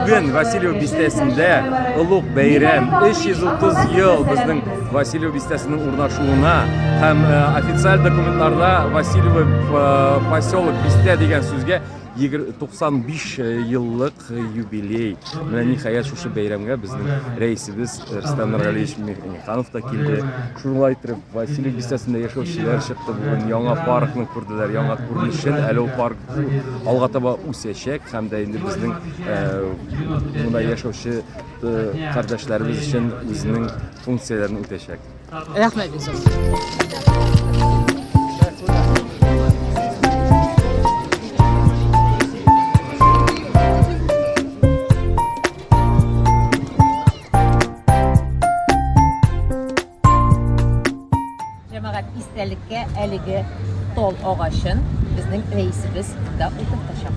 Бүген Васильев бистәсендә олуг бәйрәм 330 ел безнең Васильев бистәсенең урнашуына һәм э, официаль документларда Васильев э, поселок бистә дигән сүзгә 95 э, еллык юбилей. Менә ниһаять шушы бәйрәмгә безнең рәисебез Рөстәм Нургалиевич Миханов та килде. Шулай итеп, Василий бистәсендә яшәүчеләр чыкты бүген. Яңа паркны күрделәр, яңа күренешен. Әле ул парк алга таба үсәчәк һәм дә инде безнең монда яшәүче кардәшләребез өчен үзенең функцияләрен үтәчәк. Рәхмәт бик зур. Җәмәгать истәлеккә әлеге тол агачын безнең рәисебез монда утыртачак.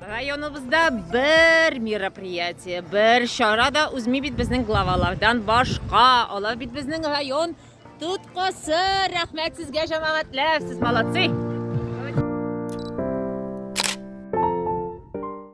районыбызда бер мероприятие бер чара да узмый бит безнең главалардан башка алар бит безнең район тоткасы рәхмәт сезгә җәмәгатьләр сез молодцы